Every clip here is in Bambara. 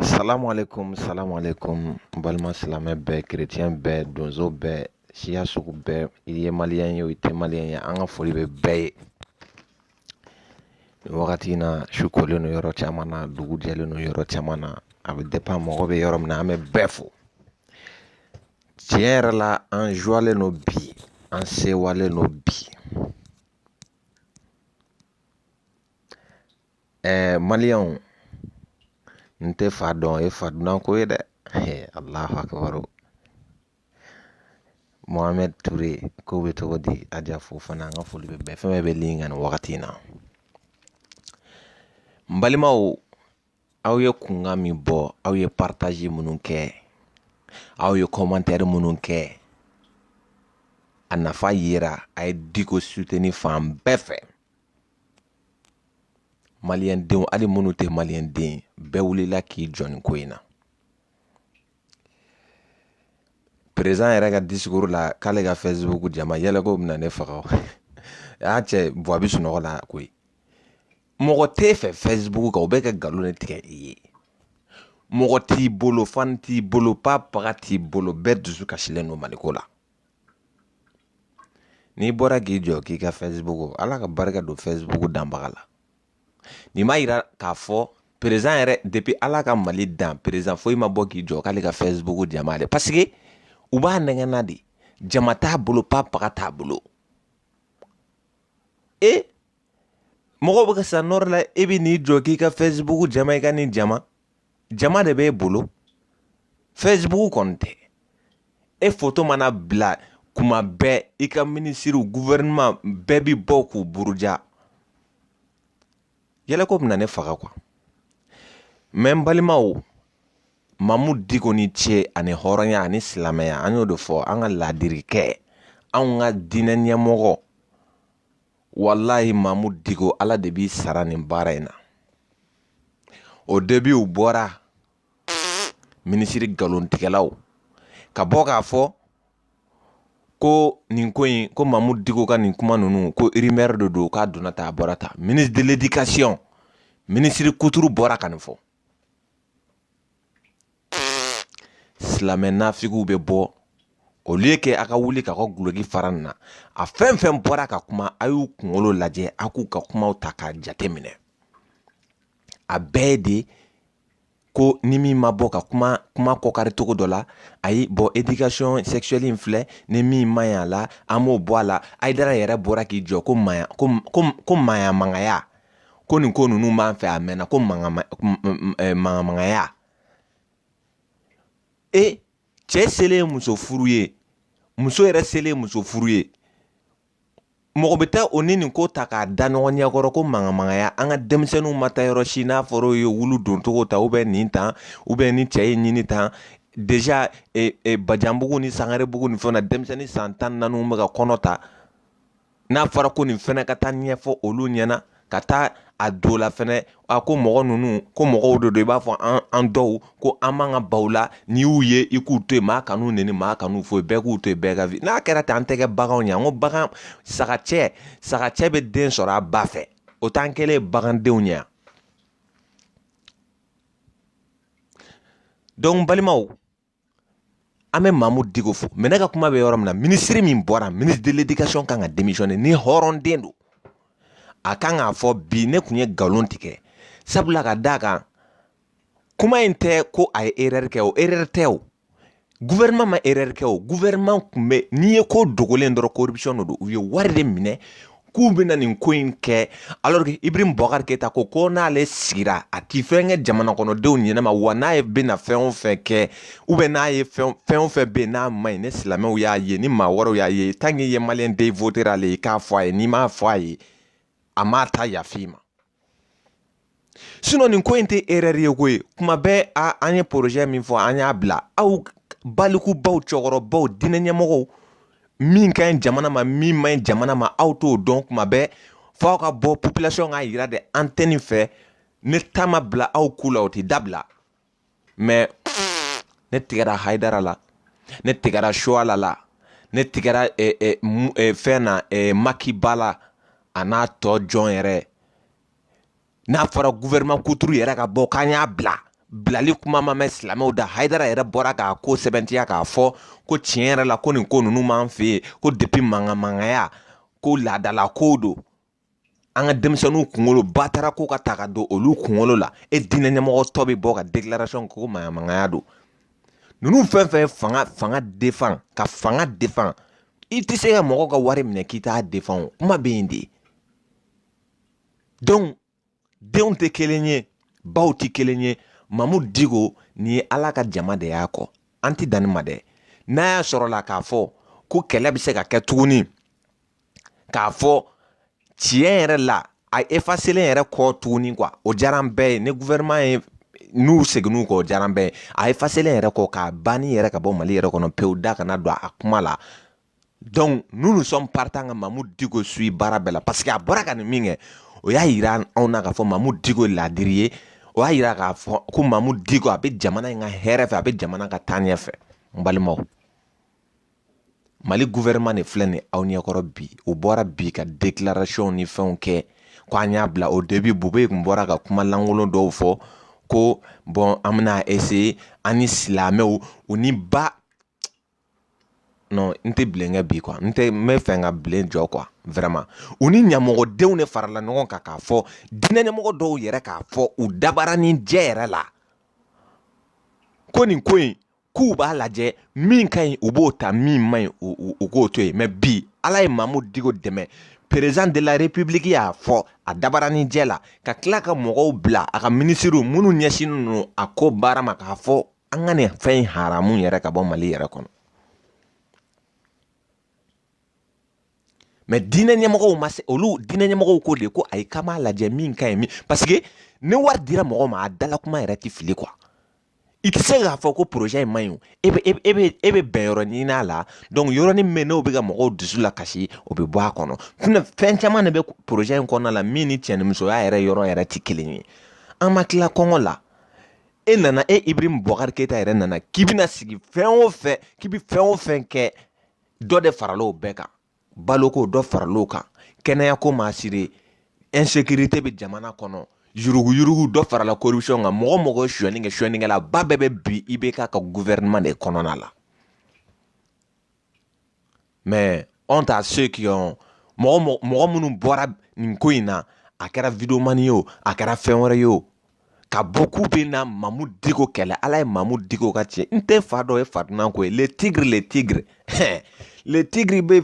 Salamu alaikum, salamu alaikum, balima silamɛ bɛɛ, kerecɛn bɛɛ, donso bɛɛ, siya sugu bɛɛ, i ye maliyɛn ye o, i tɛ maliyɛn ye, an ka foli bɛ bɛɛ ye. Nin wagati in na, su kolen don yɔrɔ caman na, dugu jɛlen don yɔrɔ caman na, a bɛ depend mɔgɔ bɛ yɔrɔ min na, an bɛ bɛɛ fo. Tiɲɛ yɛrɛ la, an jɔlen don bi, an sewalen don bi. ɛɛ maliyɛnw n tɛ fa dɔn o ye fa dunan ko ye dɛ alahu akibaru mohamɛd ture k'o bɛ cogo di aja fofana an ka foli bɛ bɛɛ fɛn bɛɛ bɛ lin kan nin wagati in na n balimaw aw ye kunkan min bɔ aw ye paritazi minnu kɛ aw ye kɔmantɛri minnu kɛ a nafa yera a ye diko suteni fan bɛɛ fɛ maliyɛndenw hali minnu tɛ maliyɛnden ye bɛɛ wulila k'i jɔ nin ko in na perezidan yɛrɛ ka disikuru la k'ale ka fɛsibuku jama yɛlɛko bɛna ne faga y'a cɛ bɔ a bɛ sunɔgɔ la koyi mɔgɔ t'e fɛ fɛsibuku kan u bɛ ka nkalon de tigɛ i ye mɔgɔ t'i bolo fan t'i bolo pa paga t'i bolo bɛɛ dusu kasilen don maliko la N'i bɔra k'i jɔ k'i ka Facebook Ala ka barika don Facebook danbaga la nin b'a yira k'a fɔ président yɛrɛ depuis Ala ka Mali dan président foyi ma bɔ k'i jɔ k'ale ka Facebook jama dɛ parce que u b'a nɛgɛn na de jama t'a bolo pa paga t'a bolo e mɔgɔw bɛ ka sa nɔrɔ la e bɛ n'i jɔ k'i ka Facebook jama i ka nin jama jama de b'e bolo facebook kɔni tɛ e foto mana bila kuma bɛɛ i ka minisiriw guvɛrɛnman bɛɛ bɛ bɔ k'u buruja yɛlɛko bɛna ne faga kuwa mɛ n balimaw mamudu diko ni ce ani hɔrɔnya ani silamɛya an y'o de fɔ an ka laadiri kɛ anw ka diinɛ ɲɛmɔgɔ walayi mamudu diko ala de b'i sara nin baara in na o debi u bɔra minisiri nkalontigɛlaw ka bɔ k'a fɔ ko nin ko in ko mamudu diko ka nin kuma ninnu ko irimɛri de don k'a donna tan a bɔra tan minisiri de ledikasɔn minisiri kuturu bɔra ka nin fɔ silamɛ nafigiw bɛ bɔ olu ye kɛ a ka wuli ka n ka dulɔki fara n na a fɛn fɛn bɔra ka kuma a y'u kunkolo lajɛ a k'u ka kumaw ta k'a jate minɛ a bɛɛ de ko ni min ma bɔ ka kuma kuma kɔkari cogo dɔ la ayi bɔn edikasɔn sɛkisuwɛli in filɛ ni min ma ɲi a la an b'o bɔ a la hayidara yɛrɛ bɔra k'i jɔ ko maya ko ko ko maya mangaya ko nin ko ninnu b'an fɛ a mɛnna ko maɲamagaya e cɛ selen muso furu ye muso yɛrɛ selen muso furu ye mɔgɔ bɛ taa o ni nin ko ta k'a da ɲɔgɔn ɲɛ kɔrɔ ko maɲamagaya an ka denmisɛnninw ma taa yɔrɔ si n'a fɔra ye wulu don cogo ta u bɛ nin tan u bɛ ni cɛ ye ɲini tan deja e, e, bajanbugu ni sangarebugu ni fɛnw na denmisɛnnin san tan naaniw bɛ ka kɔnɔ ta n'a fɔra ko nin fɛnɛ ka taa ɲɛfɔ olu ɲɛna ka taa a don la fɛnɛ a ko mɔgɔ ninnu ko mɔgɔw de don i b'a fɔ an an dɔw ko an b'an ka baw la n'i y'u ye i k'u to yen maa kan'u neni maa kan'u foyi bɛɛ k'u to yen bɛɛ ka vie n'a kɛra ten an tɛ kɛ baganw ye an ko bagan sagacɛ sagacɛ bɛ den sɔrɔ a ba fɛ o t'an kɛlen bagandenw ye yan dɔn balimaw an bɛ Mahmoud Dicko fo mais ne ka kuma bɛ yɔrɔ min na minisiri min bɔra minisiri de l'éducation kan ka démissionner ni hɔrɔnden don a kan k'a fɔ bi ne tun ye nkalon tigɛ sabula ka d'a kan kuma in tɛ ko a ye erreur kɛ o erreur tɛ o gouvernement ma erreur kɛ o gouvernement tun bɛ nin ye ko dogolen dɔrɔn corruption de don u ye wari de minɛ k'u bɛna nin ko in kɛ alors que Ibrahim Boubacar Keita ko ko n'ale sigira a ti fɛn kɛ jamanakɔnɔdenw ɲɛnama wa n'a ye bɛna fɛn o fɛn kɛ ou bien n'a ye fɛn fɛn o fɛn bɛ yen n'a man ɲi ni silamɛw y'a ye ni maa wɛrɛw y'a ye tant que i ye maliyɛn den ye i votera ale ye i k'a fɔ a ye n'i m'a fɔ a ye a m'a ta yafa i ma nin ko in tɛ erɛri ye koyi kuma bɛɛ a an ye projet min fɔ an y'a bila aw balikubaw cɛkɔrɔbaw diinɛ ɲɛmɔgɔw min ka ɲi jamana ma min man ɲi jamana ma aw t'o dɔn kuma bɛɛ fɔ aw ka bɔ population k'a yira de an tɛ nin fɛ ne ta ma bila aw ku la o tɛ dabila mɛ ne tigɛra hayidara la ne tigɛra suwala la ne tigɛra fɛn na maki ba la a n'a tɔ jɔn yɛrɛ n'a fɔra guvɛrɛnman kuturu yɛrɛ ka bɔ k'an y'a bila bilali kuma ma mɛn silamɛw da hayidara yɛrɛ bɔra k'a ko sɛbɛntiya k'a fɔ ko tiɲɛ yɛrɛ la ko nin ko ninnu b'an fɛ yen ko depi maɲamagaya ko laadala kow don an ka denmisɛnninw kunkolo batara ko ka ta ka don olu kunkolo la e diinɛ ɲɛmɔgɔ tɔ bɛ bɔ ka déclaration kɛ ko maɲamagaya don ninnu fɛn fɛn ye fanga fanga defan ka fanga defan i tɛ se ka mɔgɔw ka wari minɛ k'i t'a defan o kuma bɛ yen de denw tɛ kelen ye baw tɛ kelen ye Mahmoud Dicko nin ye ala ka jama de y'a kɔ an tɛ dan nin ma dɛ n'a y'a sɔrɔ la k'a fɔ ko kɛlɛ bɛ se ka kɛ tuguni k'a fɔ tiɲɛ yɛrɛ la a efaselen yɛrɛ kɔ tuguni kuwa o diyar'an bɛɛ ye ni guvɛrɛnman ye n'u seginn'u kɔ o diyar'an bɛɛ ye a efaselen yɛrɛ kɔ k'a banni yɛrɛ ka bɔ mali yɛrɛ kɔnɔ pewu da kana don a kuma la donc nous nous sommes partant ka mamu diko sui baara bɛɛ la parce que a bɔra ka nin min kɛ o y'a yira anw na k'a fɔ mamu diko ye laadiri ye o y'a yira k'a fɔ ko mamu diko a bɛ jamana in ka hɛrɛ fɛ a bɛ jamana ka taaɲɛ fɛ n balimaw mali gouvernement de filɛ nin aw ɲɛkɔrɔ bi u bɔra bi ka déclaration ni fɛnw kɛ ko an y'a bila o depuis bubɛyi tun bɔra ka kuma lankolon dɔw fɔ ko bɔn an bɛna ese an ni silamɛw u ni ba non n tɛ bilen kɛ bi kuwa n tɛ n bɛ fɛ ka bilen jɔ kuwa vraiment u ni ɲamɔgɔdenw de farala ɲɔgɔn kan k'a fɔ diinɛ ɲɛmɔgɔ dɔw yɛrɛ k'a fɔ u dabarani jɛ yɛrɛ la ko nin ko in k'u b'a lajɛ min ka ɲi u b'o ta min man ɲi u k'o to yen mɛ bi ala ye mamu digo dɛmɛ perezan de la repibuliki y'a fɔ a dabarani jɛ la ka tila ka mɔgɔw bila a ka minisiriw minnu ɲɛsinnen ninnu a ko baara ma k'a fɔ an ka nin fɛn in haramu yɛrɛ ka bɔ mali yɛrɛ kɔnɔ mɛ diinɛ ɲɛmɔgɔw ma se olu diinɛ ɲɛmɔgɔw ko de ko ayi k'an b'a lajɛ min ka ɲi min paseke ni wari dira mɔgɔ ma a dalakuma yɛrɛ t'i fili kuwa i tɛ se k'a fɔ ko poroze in man ɲi e bɛ e bɛ e bɛ bɛnyɔrɔ ɲini a la yɔrɔnin min n'o bɛ ka mɔgɔw dusu la kasi o bɛ bɔ a kɔnɔ fɛn caman de bɛ poroze in kɔnɔna la min ni cɛnimusoya yɛrɛ yɔrɔ yɛrɛ tɛ kelen ye an ma tila kɔngɔ la e nana e ibrahim bubakari keyita yɛrɛ nana k'i bɛna sigi fɛn o fɛn k'i bɛ fɛn o fɛn kɛ dɔ de farala o bɛɛ kan baloko dɔ farala o kan kɛnɛyako maasiri insécurité bɛ jamana kɔnɔ yuruguyurugu dɔ farala corruption kan mɔgɔ mɔgɔ ye suyɛni kɛ suyɛnikɛla ba bɛɛ bɛ bi IBK ka gouvernement de kɔnɔna la mais anw ta ceux qui ont mɔgɔ mɔgɔ minnu bɔra nin ko in na a kɛra videomani ye o a kɛra fɛn wɛrɛ ye o ka bɔ k'u bɛna mamu diko kɛlɛ ala ye mamu diko ka tiɲɛ n tɛ fa dɔ ye fa dunan ko ye le tigre le tigre le tigre bɛ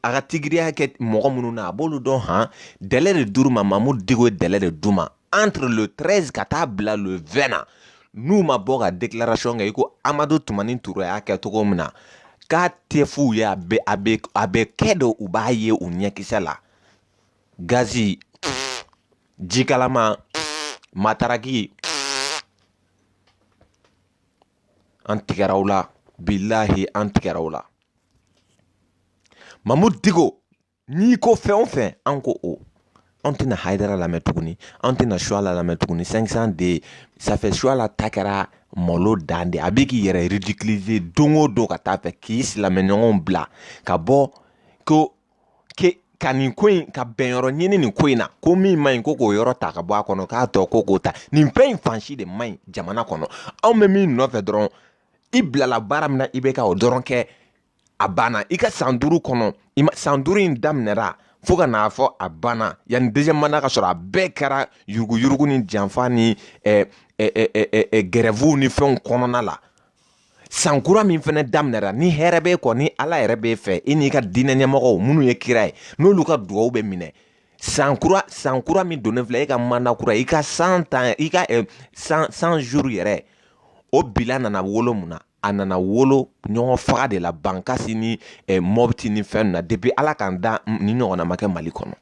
a ka tigiriya kɛ mɔgɔ minnu na a b'olu dɔn han délai de d'u ma mamu diko ye délai de d'u ma entre le 13 ka taa bila le 20 na n'u ma bɔ ka déclaration kɛ i ko amadu tumani ture y'a kɛ cogo min na k'a tɛ f'u ye a bɛ a bɛ a bɛ kɛ de u b'a ye u ɲɛkisɛ la gazi jikalama mataraki an tigɛra u la bilahi an tigɛra u la mamu digo n'i ko fɛn o fɛn an ko o an tɛna hayidara lamɛn tuguni an tɛna suwala lamɛn tuguni sankisan de safɛ suwala ta kɛra malo dan de a bɛ k'i yɛrɛ ridikilize don o don ka taa fɛ k'i silamɛɲɔgɔnw bila ka bɔ ko ke ka nin ko in ka bɛnyɔrɔ ɲini nin ko in na ko min man ɲi ko k'o yɔrɔ ta ka bɔ a kɔnɔ k'a tɔ ko k'o ta nin fɛn in fan si de man ɲi jamana kɔnɔ anw bɛ min nɔfɛ dɔrɔn i bilala baara min na i bɛ ka o dɔrɔn kɛ a banna i ka san duuru kɔnɔ i ma san duuru in daminɛra fo ka n'a fɔ a banna yanni deuxième manda ka sɔrɔ a bɛɛ kɛra yuruguyurugu ni janfa ni gɛrɛfuw ni fɛnw kɔnɔna la san kura min fɛnɛ daminɛra ni hɛrɛ bɛ kɔ ni ala yɛrɛ b'i fɛ i n'i ka diinɛ ɲɛmɔgɔw minnu ye kira ye n'olu ka dugawu bɛ minɛ san kura san kura min donnen filɛ e ka manda kura i ka san tan i ka san cent jours yɛrɛ o bilan nana wolo mun na a nana wolo ɲɔgɔn faga de la bankasi ni eh, mɔpti ni fɛn na depi ala k'an da nin ɲɔgɔnna ma kɛ mali kɔnɔ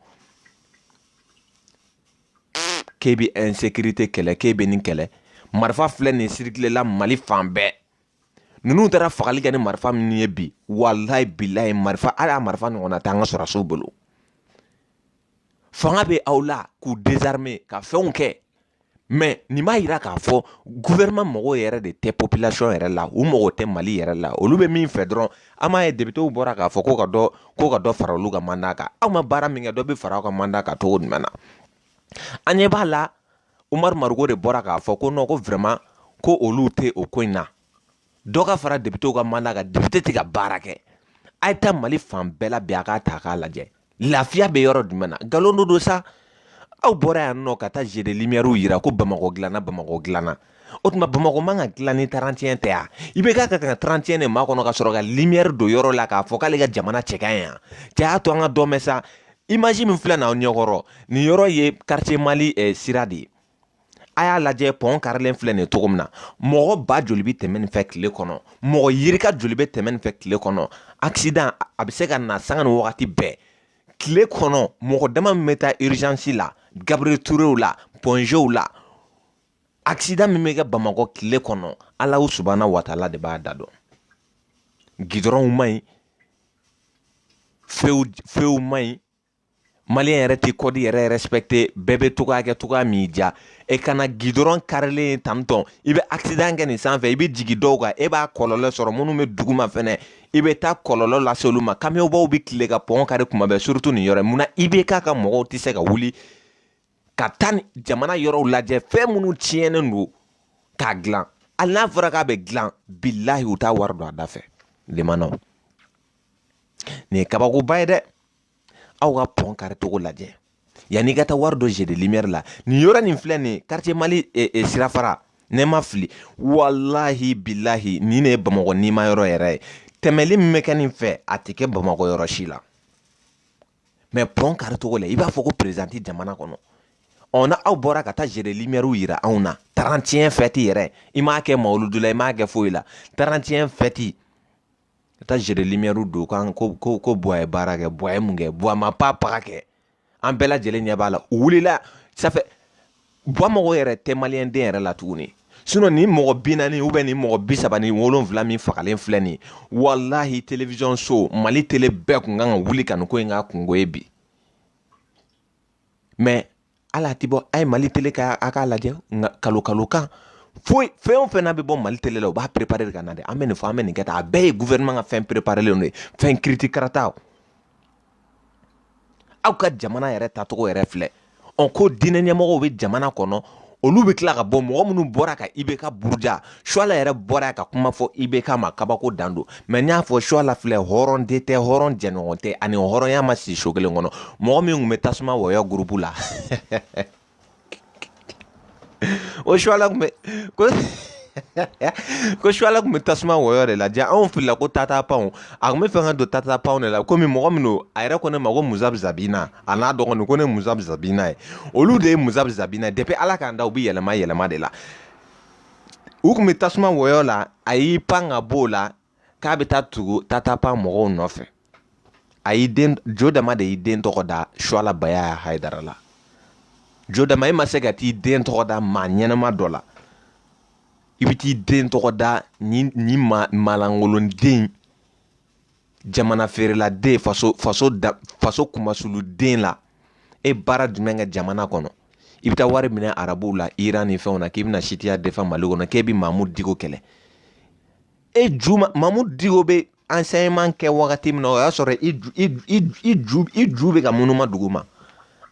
k'e bɛ insécurité kɛlɛ k'e bɛ nin kɛlɛ marifa filɛ nin sirikilela mali fan bɛɛ ninnu taara fagali kɛ ni marifa minnu ye bi walayi bilayi marifa hali a marifa ɲɔgɔnna tɛ an ka sɔrɔdasiw bolo fanga bɛ aw la k'u dezarime ka fɛnw kɛ mɛ nin b'a jira k'a fɔ gouvernement mago yɛrɛ de tɛ popilasɔn yɛrɛ la u mago tɛ mali yɛrɛ la olu bɛ min fɛ dɔrɔn an m'a ye depitew bɔra k'a fɔ ko ka dɔ ko ka dɔ fara olu ka manda kan aw ma baara min kɛ dɔ bɛ fara aw ka manda kan cogo jumɛn na an ɲɛ b'a la umaru mariko de bɔra k'a fɔ ko nɔn ko vraiment ko olu tɛ o ko in na dɔ ka fara depitew ka manda kan depite tɛ ka baara kɛ a ye taa mali fan bɛɛ la bi a k'a ta k'a lajɛ lafiya bɛ yɔrɔ jumɛn na nkalon dɔ don sa aw bɔra yan nɔ ka taa jeux de limiyɛriw yira ko bamakɔ dilanna bamakɔ dilanna o tuma bamakɔ man ka dilan ni tarantiyɛn tɛ yan IBK ka ka tarantiyɛn de makɔnɔ ka sɔrɔ ka limiyɛri don yɔrɔ la k'a fɔ k'ale ka jamana cɛ ka ɲi yan cɛ y'a to an ka dɔn bɛ sa imaji min filɛ na aw ɲɛkɔrɔ nin yɔrɔ ye quartier mali eh, sira de ye a y'a lajɛ pɔn karilen filɛ nin cogo min na mɔgɔ ba joli bɛ tɛmɛ nin fɛ tile kɔnɔ mɔgɔ yirika joli bɛ tɛmɛ nin fɛ tile kɔnɔ accident a bɛ se ka na sanga ni wagati bɛɛ tile kɔnɔ mɔgɔ dama min bɛ taa urgence la Gabriel Tourew la Point Gw la accident min bɛ kɛ Bamakɔ tile kɔnɔ Alahu subahana wataala de b'a da dɔn gidɔrɔnw man ɲi few few man ɲi maliyɛn yɛrɛ tɛ kɔdi yɛrɛ respecte bɛɛ bɛ cogoya kɛ cogoya min diya e kana gidɔrɔn karilen tantɔn i bɛ accident kɛ nin sanfɛ i bɛ jigin dɔw kan e b'a kɔlɔlɔ sɔrɔ minnu bɛ duguma fɛnɛ i bɛ taa kɔlɔlɔ lase olu ma kamiyɔnbaw bɛ tile ka pɔn kari tuma bɛɛ surtout nin yɔrɔ munna IBK ka mɔgɔw tɛ se ka wuli ka taa jamana yɔrɔw lajɛ fɛn minnu tiɲɛnen don k'a dilan hali n'a fɔra k'a bɛ dilan bilahi u t'a wari don a da fɛ lemanaw nin ye kabakoba ye dɛ aw ka pɔn kari cogo lajɛ yanni i ka taa wari don jeux de limiyɛri la nin yɔrɔ nin filɛ nin ye karitiye mali eh, eh, sirafara ne ma fili walahi bilahi nin ne ye bamakɔ nima yɔrɔ yɛrɛ ye tɛmɛli min bɛ kɛ nin fɛ a tɛ kɛ bamakɔ yɔrɔ si la mɛ pɔn kari cogo lajɛ i b'a fɔ ko perezidan tɛ jamana kɔnɔ ɔ na aw bɔra ka taa jeux de limiyɛriw yira anw na tarantiyɛn fɛti yɛrɛ i m'a kɛ mawuludu la i m'a kɛ foyi la tarantiyɛn fɛti ka taa zeremuru don kan ko ko ko bua ye baara kɛ bua ye mun kɛ bua ma pa paga kɛ an bɛɛ lajɛlen ɲɛ b'a la u wulila sanfɛ bua mago yɛrɛ tɛ maliden yɛrɛ la tuguni sinɔn mɔgɔ bi naani ubiyɛn mɔgɔ bi saba ni wolonwula min fagalen filɛ nin walahi télévision so mali tele bɛɛ tun kan ka wuli ka ko in kɛ kunko ye bi mɛ ala ti bɔ a ye mali tele ka a k'a lajɛ nkalon kalon kan foyi fɛn o fɛn n'a bɛ bɔ mali tele la u b'a perepare de ka na dɛ an bɛ nin fɔ an bɛ nin kɛ tan a bɛɛ ye gouvernement ka fɛn preparelen de ye fɛn kiriti karata aw ka jamana yɛrɛ tacogo yɛrɛ filɛ ɔ ko diinɛ ɲɛmɔgɔw bɛ jamana kɔnɔ olu bɛ tila ka bɔ mɔgɔ minnu bɔra ka ibeka buruja suala yɛrɛ bɔra ka kuma fɔ ibeka ma kabako dan don mɛ n y'a fɔ suala filɛ hɔrɔn de tɛ hɔrɔn jɛɲɔgɔn tɛ a ni hɔrɔnya ma si so kelen kɔnɔ mɔgɔ min tun bɛ tasuma wɔyɔ gurupu la o suala tun bɛ ko ko suala tun bɛ tasuma wɔyɔ de la ja anw filila ko tata pound a tun b'a fɛ ka don tata pound de la komi mɔgɔ min don a yɛrɛ ko ne ma ko muzabzabina a n'a dɔgɔnin ko ne muzabzabina ye olu de ye muzabzabina ye depi ala k'an da u bɛ yɛlɛma yɛlɛma de la u tun bɛ tasuma wɔyɔ la a y'i pan ka b'o la k'a bɛ taa tugu tata pound mɔgɔw nɔfɛ a y'i den jo dama de y'i den tɔgɔ da suala bayaya hayidara la jo dama e ma se ka t'i den tɔgɔ da maa ɲɛnɛma dɔ la i bɛ t'i den tɔgɔ da nin nin ma malangolonden jamana feerela den faso faso da faso kunmasuuli den la e baara jumɛn kɛ jamana kɔnɔ i bɛ taa wari minɛ arabuw la iran ni fɛnw na k'i bɛna siyitiya defan mali kɔnɔ k'e bɛ mamu diko kɛlɛ e ju mamu diko bɛ ansɛɲɛman kɛ wagati min na o y'a sɔrɔ i ju i ju i ju i ju bɛ ka munuma dugu ma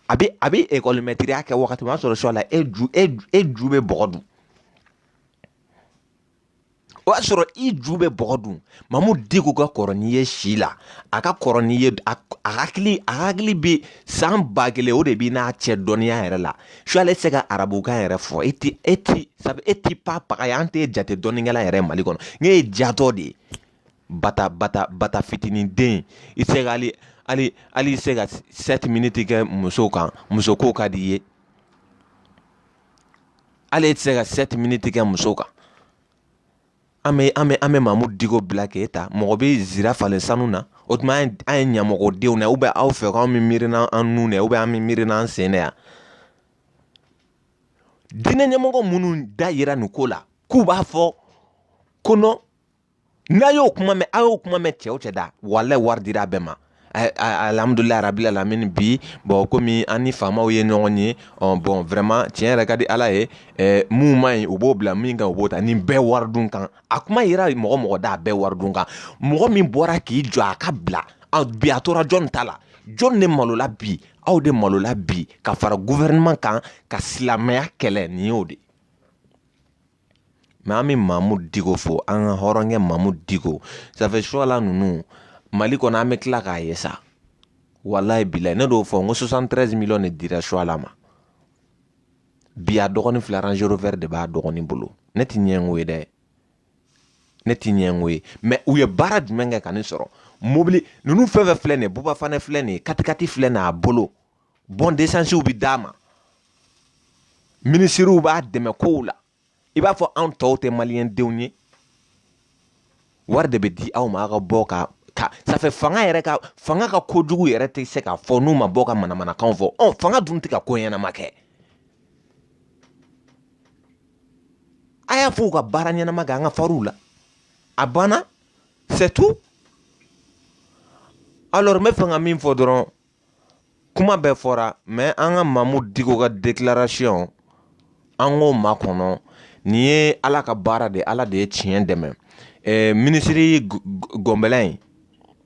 a bɛ a bɛ ekɔlimɛtiriya kɛ wagati min o y'a sɔrɔ suala e ju e e ju bɛ bɔgɔ dun o y'a sɔrɔ i ju bɛ bɔgɔ dun mamu diko ka kɔrɔ n'i ye si la a ka kɔrɔ n'i ye a hakili a hakili bɛ san ba kelen o de b'i n'a cɛ dɔnniya yɛrɛ la suala tɛ se ka arabukan yɛrɛ fɔ e ti e ti sabu e ti pa paga ye an t'e jate dɔnnikɛla yɛrɛ mali kɔnɔ n k'e ye jatɔ de ye bata bata bata fitinin den i se ka hali hali hali se ka sɛti miniti kɛ muso kan muso ko ka di i ye hali e tɛ se ka sɛti miniti kɛ muso kan an bɛ an bɛ an bɛ mamu diko bila k'e ta mɔgɔ bɛ zira falen sanu na o tuma an ye ɲamɔgɔdenw na ubiyɛn aw fɛ k'an bɛ miiri n'an nun na ubiyɛn an bɛ miiri n'an sen de ye diinɛ ɲɛmɔgɔ minnu da yira nin ko la k'u b'a fɔ ko nɔn n'a y'o kuma mɛn a y'o kuma mɛn cɛ o cɛ da walayi wari dira a bɛɛ ma alihamudulila rabi alamini bi bɔn komi an ni faamaw ye ɲɔgɔn ye bɔn vraiment tiɲɛ yɛrɛ ka di ala ye min ma ɲi u b'o bila min ka ɲi u b'o ta nin bɛɛ wari dun kan a kuma yira mɔgɔ mɔgɔ da a bɛɛ wari dun kan mɔgɔ min bɔra k'i jɔ a ka bila a bi a tora jɔn ta la jɔn de malola bi aw de malola bi ka fara gouvernement kan ka silamɛya kɛlɛ nin y'o de mɛ an bɛ maamu diko fo an ka hɔrɔnkɛ maamu diko ça fait suwala ninnu mali kɔnɔ an bɛ tila k'a ye sa walayi bilayi ne y'o fɔ n ko sosantɛrɛn tɛrɛzi miliyɔn de dira suwala ma bi a dɔgɔnin fila Range Rover de b'a dɔgɔnin bolo ne ti ɲɛngo ye dɛ ne ti ɲɛngo ye mɛ u ye baara jumɛn kɛ ka nin sɔrɔ mobili ninnu fɛn fɛn filɛ nin ye bubafane filɛ nin ye katikati filɛ nin a bolo bɔn d'esansiw bɛ d'a ma minisiriw b'a dɛmɛ kow la i b'a fɔ anw tɔw tɛ maliyɛndenw ye wari de bɛ di aw ma aw ka bɔ ka ka ça fait fanga yɛrɛ ka fanga ka kojugu yɛrɛ tɛ se k'a fɔ n'u ma bɔ ka manamanakanw fɔ ɔ fanga dun tɛ ka ko ɲɛnama kɛ a y'a fɔ u ka baara ɲɛnama kɛ an ka fariw la a banna c'est tout alors n bɛ fɛ ka min fɔ dɔrɔn kuma bɛɛ fɔra mɛ an ka mamu diko ka dekilarasiyɔn an k'o makɔnɔ nin ye ala ka baara de ye ala de ye tiɲɛ dɛmɛ ɛɛ minisiri gɔnbɛlɛ in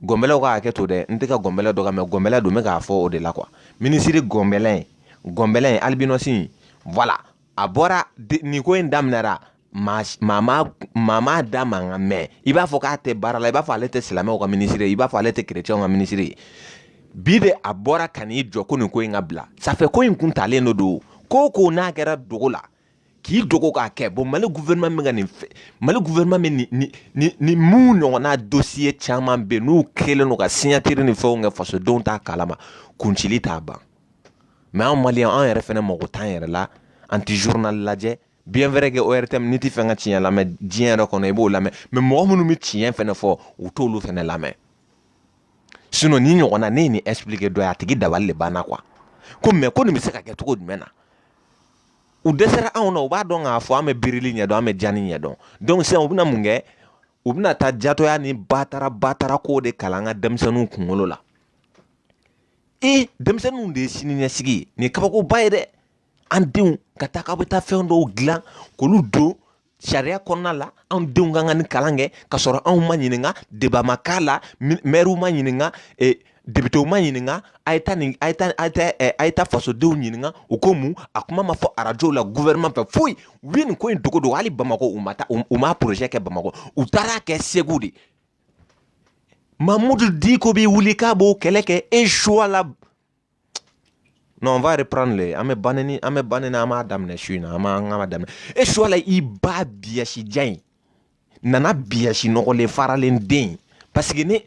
gɔnbɛlɛw ka hakɛ to dɛ n tɛ ka gɔnbɛlɛ dɔgɔya mɛ gɔnbɛlɛ don n bɛ k'a fɔ o de la kuwa minisiri gɔnbɛlɛ in gɔnbɛlɛ in alibinɔsi in wala a bɔra nin ko in daminɛra maa m'a da mankan mɛn i b'a fɔ k'a tɛ baara la i b'a fɔ ale tɛ silamɛw ka minisiri i b'a fɔ ale tɛ kerecɛnw ka minisiri ye bi de a bɔra ka n'i jɔ ko nin ko in ka bila ça fait ko in kun talen don donc ko ko n'a kɛra dogo la k'i dogo k'a kɛ bɔn mali gufɛrɛnma min ka nin fɛ mali gufɛrɛnma min ni ni ni ni mun ɲɔgɔnna dosiye caman bɛ yen n'u kelen don ka siɲatiri ni fɛnw kɛ fasodenw t'a kalama kuncili t'a ban mɛ an maliyɛn an yɛrɛ fɛnɛ mago t'an yɛrɛ la an ti zurunali lajɛ bien vrai que ORTM n'i ti fɛ ka tiɲɛ lamɛn diɲɛ yɛrɛ kɔnɔ i b'o lamɛn mɛ mɔgɔ minnu bɛ tiɲɛ fɛnɛ fɔ u t'olu fɛnɛ lamɛn sinɔn nin ɲɔgɔnna ne ye nin expliqué dɔ ye a tigi dabali de banna kuwa ko mɛ ko nin bɛ se ka kɛ cogo jumɛn na u dɛsɛra anw na u b'a dɔn k'a fɔ an bɛ birili ɲɛdɔn an bɛ jani ɲɛdɔn donc sisan u bɛna mun kɛ u bɛna taa jatɔya ni batara batara ko de kalan an ka denmisɛnninw kunkolo la i denmisɛnninw de ye sini ɲɛsigi ye nin ye kabakoba ye dɛ an denw ka taa k'aw bɛ taa fɛn dɔw dilan k'olu don sariya kɔnɔna la anw denw ka kan ka nin kalan kɛ ka sɔrɔ anw ma ɲininka deba ma k'a la mɛriw ma ɲininka eh, depitew ma ɲininka a ye taa nin a ye taa a ye taa eh, a ye taa fasodenw ɲininka u ko mun a kuma ma fɔ arajow la gouvernement fɛ foyi u ye nin ko in dogo dogo hali bamakɔ u ma taa u ma projet kɛ bamakɔ u taara kɛ segu de mamudu diko bɛ wuli k'a b'o kɛlɛ kɛ e suwala Non, on va reprendre les. An bɛ baneni an bɛ baneni an b'a daminɛ su in na an b'a an b'a daminɛ e suwala i ba biyasi ja in nana biyasi nɔgɔlen faralen den parce que ni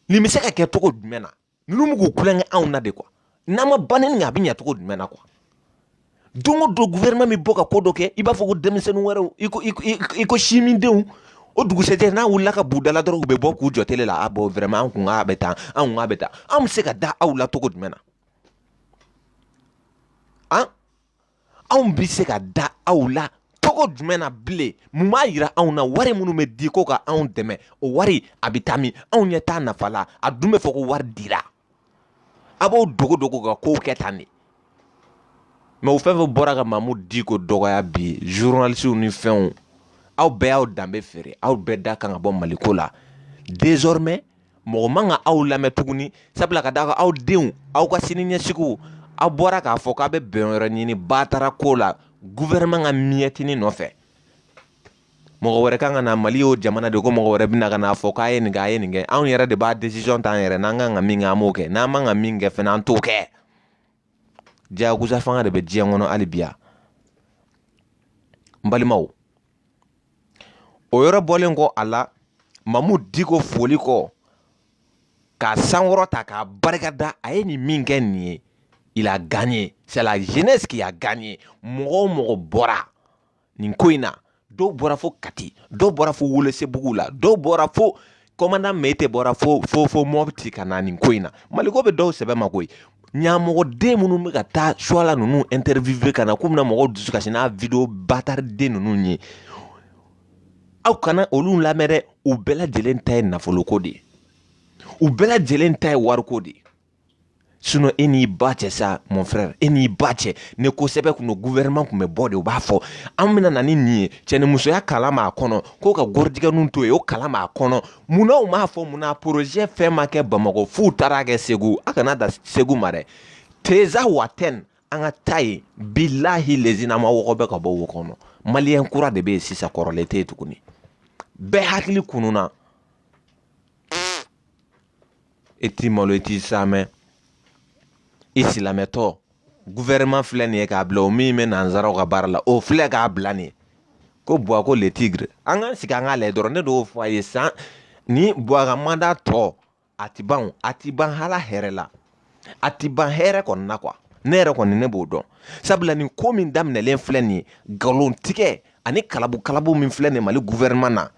nin bɛ se ka kɛ cogo jumɛn na ninnu bɛ k'u kulonkɛ anw na de quoi n'an ma baneni kɛ a bɛ ɲɛ cogo jumɛn na quoi don o don gouvernement bɛ bɔ ka ko dɔ kɛ i b'a fɔ ko denmisɛnnin wɛrɛw i ko i ko sinmindenw o dugusɛjɛ n'a wulila ka b'u da la dɔrɔn u bɛ bɔ k'u jɔ tele la a bɔ vraiment an kun k'a bɛ tan an kun k'a bɛ tan an bɛ se ka da aw la cogo jumɛn na an anw bɛ se ka da aw la cogo jumɛn na bilen mun b'a yira anw na wari minnu bɛ di ko ka anw dɛmɛ o wari a bɛ taa min anw ɲɛ t'a nafa la a dun bɛ fɔ ko wari dira a b'o dogo dogo ka kow kɛ tan de mɛ o fɛn fɛn bɔra ka mamu diko dɔgɔya bi zurunalisiw ni fɛnw aw bɛɛ y'aw danbe feere aw bɛɛ da kan ka bɔ maliko la dezɔrɔmɛ mɔgɔ man ka aw lamɛn tuguni sabula ka da kan aw denw aw ka sini ɲɛsigiw aw bɔra k'a fɔ k'a bɛ bɛn yɔrɔ ɲini batara ko la guvɛrɛnman ka miyɛtini nɔfɛ mɔgɔ wɛrɛ kan ka na mali y'o jamana de ko mɔgɔ wɛrɛ bɛna ka n'a fɔ k'a ye nin kɛ a ye nin kɛ anw yɛrɛ de b'a decision ta an yɛrɛ n'an kan ka min kɛ an b'o kɛ n'an man ka min kɛ fɛnɛ an t'o kɛ diyagoya fanga de bɛ diɲɛ kɔnɔ hali bi yan n balimaw o yɔrɔ bɔlen kɔ a la mamu diko foli kɔ k'a sankɔrɔta k'a barika da a ye nin min kɛ nin ye il a gagné c'est la jeunesse qui a gagné mɔgɔ o mɔgɔ bɔra nin ko in na dɔw bɔra fo kati dɔw bɔra fo wolosebugu la dɔw bɔra fo kɔmanda mete bɔra fo fo fo mɔti ka na nin ko in na maliko bɛ dɔw sɛbɛ ma koyi ɲamɔgɔden minnu bɛ ka taa suwala ninnu interviewe ka na k'u bɛna mɔgɔw dusu kasi n'a video bataraden ninnu ye aw kana olu lamɛn dɛ u bɛɛ lajɛlen ta ye nafoloko de ye u bɛɛ lajɛlen ta ye wariko de ye sinɔn e n'i ba cɛ sa mon frère e n'i ba cɛ ni ko sɛbɛ kun don gouvernement kun bɛ bɔ de u b'a fɔ an bɛna na ni nin ye cɛnimusoya kalan b'a kɔnɔ ko ka gɔrijigɛninw to yen o kalan b'a kɔnɔ mun na u m'a fɔ mun na projet fɛn ma kɛ bamakɔ f'u taara kɛ segu a kana dan segu ma dɛ tinzawatɛn an ka taa yen bilahi lezinama mɔgɔ bɛ ka bɔ wo kɔnɔ maliyɛn kura de bɛ yen sisan kɔrɔlen tɛ yen tuguni bɛɛ hakili kununna e t'i malo i t'i saamɛ i silamɛtɔ gouvernement filɛ nin ye k'a bila o min bɛ nanzaraw ka baara la o filɛ k'a bila nin ye ko buwa ko le tigre an k'an sigi an k'a lajɛ dɔrɔn ne d'o fɔ a ye san ni buwa ka manda tɔ a ti ban a ti ban hala hɛrɛ la a ti ban hɛrɛ kɔni na quoi ne yɛrɛ kɔni ne b'o dɔn sabula nin ko min daminɛlen filɛ nin ye nkalon tigɛ ani kalabu kalabu min filɛ nin mali gouvernement na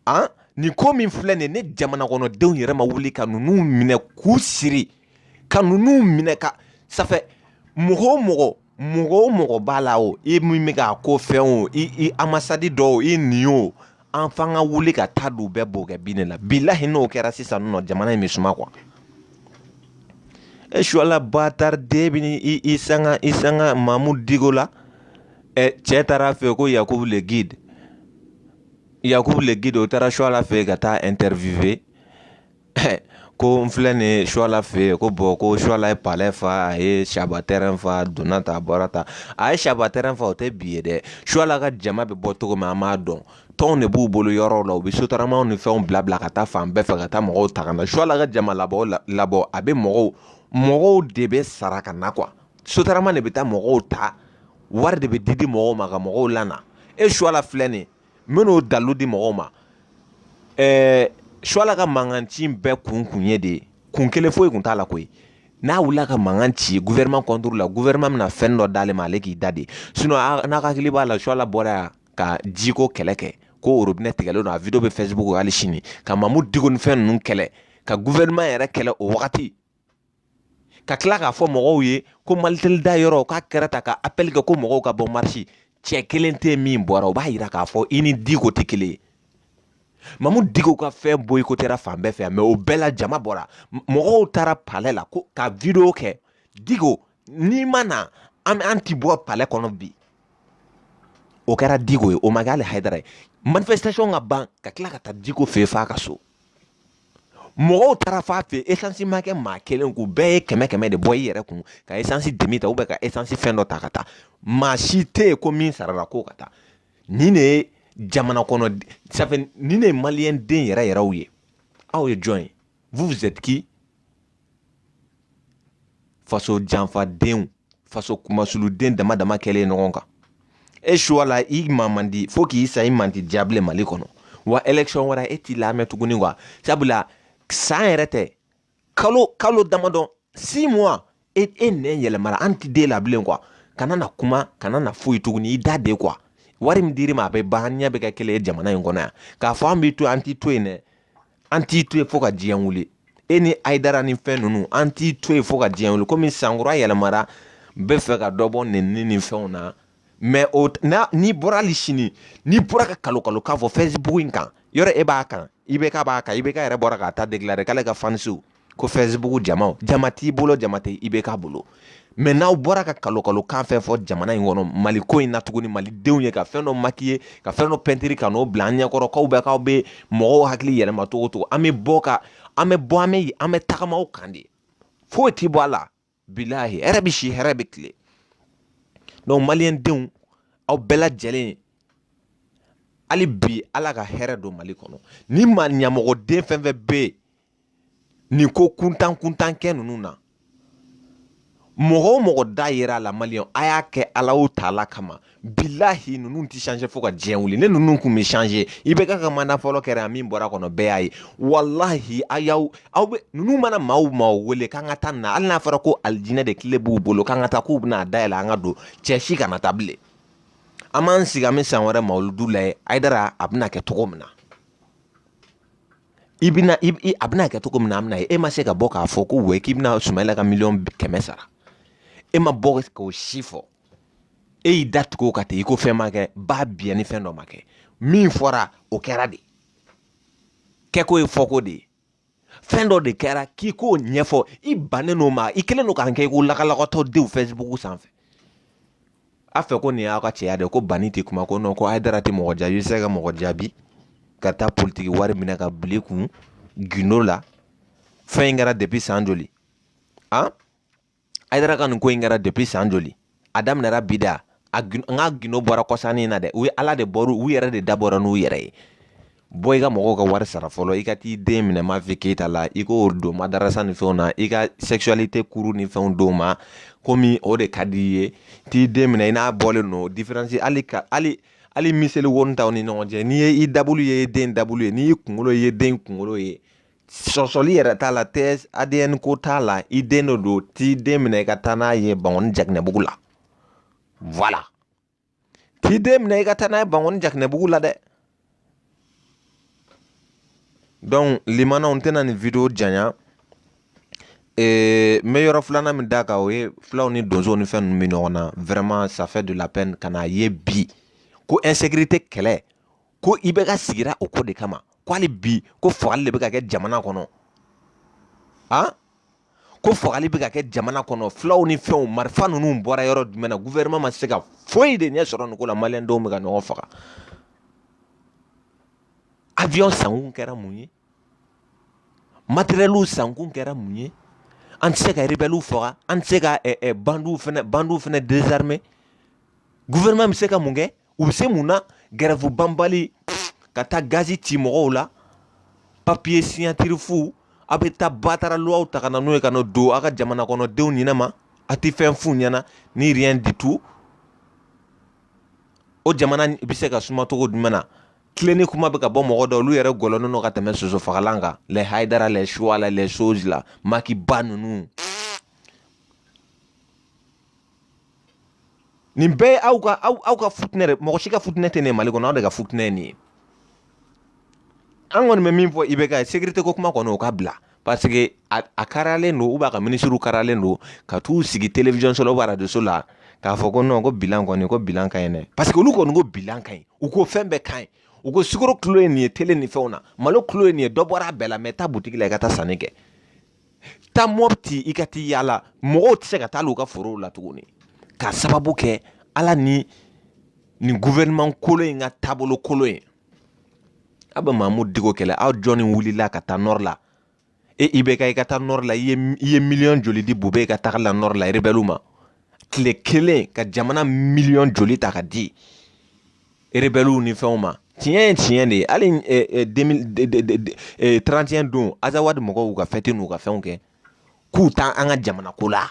an nin ko min filɛ nin ye ni jamanakɔnɔdenw yɛrɛ ma wuli ka ninnu minɛ k'u siri ka ninnu minɛ ka safɛ mɔgɔ o mɔgɔ mɔgɔ o mɔgɔ b'a la o i min bɛ k'a ko fɛn o i i amasadi dɔ o i nin o an f'an ka wuli ka taa don bɛɛ b'o kɛ bin de la bilahi n'o kɛra sisan nɔ jamana in bɛ suma quoi e suwala batariden bɛ i i sanga i sanga mamudu diko la Ɛ cɛ taara fɛ ko yakuba le guide yakuba le guide o taara suwala fɛ yen ka taa interview kɛ ko n filɛ nin suwala fɛ yen ko bon ko suwala ye palɛ fa a ye saba tɛ n fa donna ta bɔra ta a ye saba tɛ n fa o tɛ bi ye dɛ suwala ka jama bɛ bɔ cogo min an b'a dɔn tɔn de b'u bolo yɔrɔ la u bɛ sotaramaw ni fɛnw bila bila ka taa fan bɛɛ fɛ ka taa mɔgɔw ta na suwala ka jama labɔ labɔ a bɛ mɔgɔw mɔgɔw de bɛ sara ka na qu sotarama de bɛ taa mɔgɔw ta wari de bɛ di di mɔgɔw ma ka mɔgɔw lana e suwala filɛ nin n bɛn'o dalilu di mɔgɔw ma ɛɛ suwala ka mankan ci bɛɛ kun kun ye de ye kun kelen foyi kun t'a la koyi n'a wulila ka mankan ci gouvernement contre la gouvernement bɛna fɛn dɔ d'ale ma ale k'i da de sinon n'a hakili b'a la suwala bɔra yan ka jiko kɛlɛ kɛ ko orobinɛ tigɛlen don a video bɛ facebook hali sini ka mamudu diko ni fɛn ninnu kɛlɛ ka gouvernement yɛrɛ kɛlɛ o wagati ka tila k'a fɔ mɔgɔw ye ko maliteli da yɔrɔ k'a kɛra ta ka apɛli kɛ ko mɔgɔw ka bɔ marisi cɛ kelen tɛ min bɔra o b'a yira k'a fɔ i ni diko tɛ kelen ye mamudu diko ka fɛn boyikotera fan bɛɛ fɛ mɛ o bɛɛ la jama bɔra mɔgɔw taara palɛ la ko ka video kɛ diko n'i ma na an an ti bɔ palɛ kɔnɔ bi o kɛra diko ye o ma kɛ hali hayidara ye manifestation ka ban ka tila ka taa diko fɛ f'a ka so mɔgɔw taara f'a fɛ esansi ma kɛ maa kelen k'u bɛɛ ye kɛmɛ kɛmɛ de bɔ i yɛrɛ kun ka esansi demi ta ka esansi fɛn dɔ ta ka taa maa si tɛ yen ko min sarala ko ka taa nin de ye jamana kɔnɔ safe nin de ye maliyɛn den yɛrɛ yɛrɛw ye aw ye jɔn ye vous vous êtes qui faso janfadenw faso kunmasuliden dama dama kɛlen ɲɔgɔn kan e suwala i ma man di fo k'i sa i man di diable mali kɔnɔ wa election wɛrɛ e t'i lamɛn tuguni wa sabula san yɛrɛ tɛ kalo kalo damadɔ six mois e e nɛn yɛlɛmara an ti da i la bilen quoi kana na kuma kana na foyi tuguni i da de quoi wari min dir'i ma a bɛ ban ɲɛ bɛ kɛ kelen ye jamana in kɔnɔ yan k'a fɔ an b'i to an t'i to yen dɛ an t'i to yen fo ka diɲɛ wuli e ni ayidara ni fɛn ninnu an t'i to yen fo ka diɲɛ wuli komi sankura yɛlɛmara b'a fɛ ka dɔ bɔ nɛnni ni fɛnw na mɛ o na n'i bɔra hali sini n'i bɔra ka kalokalo k'a fɔ fɛsibuku in kan yɔrɔ e b'a kan ibk b'a kan ibk yɛrɛ bɔra ka taa déclarer k'ale ka fanisiw ko fɛsibuku jama jama t'i bolo jama tɛ ibk bolo mɛ n'aw bɔra ka kalokalo kan fɛn fɔ jamana in kɔnɔ mali ko in na tuguni malidenw ye ka fɛn dɔ maquiller ka fɛn dɔ pɛntiri ka n'o bila an ɲɛkɔrɔ k'aw bɛ k'aw bɛ mɔgɔw hakili yɛlɛma cogo cogo an bɛ bɔ ka an bɛ bɔ an bɛ an bɛ tagama aw kan de foyi t'i bɔ a la bilahi hɛrɛ bi si hɛrɛ bi tile donc maliyɛn denw aw bɛɛ lajɛlen hali bi ala ka hɛrɛ don mali kɔnɔ ni maa ɲamɔgɔden fɛn fɛn bɛ yen nin ko kuntan kuntan kɛ ninnu na mɔgɔ o mɔgɔ da yera a la maliyɛn a y'a kɛ alahu taala kama bilahi ninnu tɛ changer fo ka diɲɛ wuli ni ninnu kun bɛ changer ibk ka manda fɔlɔ kɛra yan min bɔra a kɔnɔ bɛɛ y'a ye walahi a y'aw aw bɛ ninnu mana maaw maaw wele k'an ka taa nin na hali n'a fɔra ko alijinɛ da kile b'u bolo k'an ka taa k'u bɛna a dayɛlɛ an ka don cɛ si kana taa bilen an b'an sigi an bɛ san wɛrɛ mawuludu lajɛ ayidara a bɛna kɛ cogo min na i bɛna i a bɛna kɛ cogo min na an bɛna ye e ma se ka bɔ k'a fɔ ko wɛ k'i bɛna sumayila ka miliyɔn kɛmɛ sara e ma bɔ k'o si fɔ e y'i da tugu o kan ten i ko fɛn ma kɛ ba biyɛn ni fɛn dɔ ma kɛ min fɔra o kɛra de kɛko ye fɔko de ye fɛn dɔ de kɛra k'i k'o ɲɛfɔ i bannen n'o ma i kelen don k'an kɛ i ko lakalakatɔ denw fɛsibuku sanfɛ a fɛ ko nin y'aw ka cɛya de ko bani tɛ kuma ko nɔn ko ayidara tɛ mɔgɔ jaabi i bɛ se ka mɔgɔ jaabi ka taa politiki wari minɛ k'a bila i kun gindo la fɛn in kɛra depi san joli an ayidara ka nin ko in kɛra depuis san joli a daminɛra bi da aw ka gindo bɔra kɔsa in na dɛ u ye ala de bɔra u yɛrɛ de dabɔra n'u yɛrɛ ye bɔ i ka mɔgɔw ka wari sara fɔlɔ i ka t'i den minɛ mafi keyita la i k'o don madarasa ni fɛnw na i ka sexualité kuru ni fɛnw don ma komi o de ka di i ye t'i den minɛ i n'a bɔlen don différence hali ka hali hali miseli woni t'aw ni ɲɔgɔn cɛ n'i ye i dabulu ye den dabulu ye n'i y'i kunkolo ye den kunkolo ye sɔsɔli yɛrɛ t'a la tɛ adn ko t'a la i den dɔ don t'i den minɛ i ka taa n'a ye bangɔni jakinɛbugu la voilà t'i den minɛ i ka taa n'a ye bangɔni jakinɛbugu la dɛ donc limanaw n tɛna nin video janya n bɛ yɔrɔ filanan min d'a kan o ye fulaw ni donsow ni fɛn ninnu bɛ ɲɔgɔn na vraiment ça fait de la peine ka n'a ye bi ko insécurité kɛlɛ ko ibk sigira o ko de kama ko hali bi ko fagali de bɛ ka kɛ jamana kɔnɔ a ko fagali bɛ ka kɛ jamana kɔnɔ fulaw ni fɛnw marifa ninnu bɔra yɔrɔ jumɛn na guvɛrɛnɛma ma se ka foyi de ɲɛ sɔrɔ nin ko la maliyɛndenw bɛ ka ɲɔgɔn faga avion sankun kɛra mun ye matɛrɛliw sankun kɛra mun ye an tɛ se ka rebɛliw faga an tɛ se ka eh, eh, bandiw fana bandiw fana dezarime guvɛrɛnman bɛ se ka mun kɛ u bɛ se mun na gɛrɛfu banbali ka taa gazi ci mɔgɔw la papiye siɲatiri fu aw bɛ taa batara luwaw ta ka na n'o ye ka na don aw ka jamana kɔnɔ denw ɲinɛ ma a tɛ fɛn f'u ɲɛna ni rien du tout o jamana bɛ se ka suma cogo jumɛn na tilenni kuma bɛ ka bɔ mɔgɔ dɔw olu yɛrɛ gɔlɔnnen don ka tɛmɛ soso fagalan kan lɛ hayidara lɛ suwala lɛ soji la makiba ninnu nin bɛɛ ye aw ka aw aw ka futinɛ de mɔgɔ si ka futinɛ tɛ ne mali kɔnɔ aw de ka futinɛ ye nin ye an kɔni bɛ min fɔ IBK ye sekirite ko kuma kɔni o ka bila Paseke a karalen don a ka minisiriw karalen don ka t'u sigi télévisionso ou radioso la k'a fɔ ko nɔn ko bilan kɔni ko bilan ka ɲi parce que olu kɔni ko bi ka ɲi u ko fɛn bɛɛ ka ɲi u ko sukaro kilo ye nin ye tele ni fɛnw na malo kilo ye nin ye dɔ bɔra a bɛɛ la mɛ taa butigi la i ka taa sanni kɛ taa mɔti i ka taa yaala mɔgɔw tɛ se ka taa u ka forow la tuguni ka sababu kɛ ala ni nin guvɛrɛnman kolon in ka taabolo kolon ye aw bɛ mamudu diko kɛlɛ aw jɔnni wulila ka taa nɔri la e IBK i ka taa nɔri la i ye miliyɔn joli di bubɛyi ka taga la nɔri la rebɛliw ma tile kelen ka jamana miliyɔn joli ta ka di rebɛliw ni fɛnw ma tiɲɛ ye tiɲɛ de ye hali 31 don azawadi mɔgɔw ka fɛti n'u ka fɛnw kɛ k'u t'an ka jamana ko la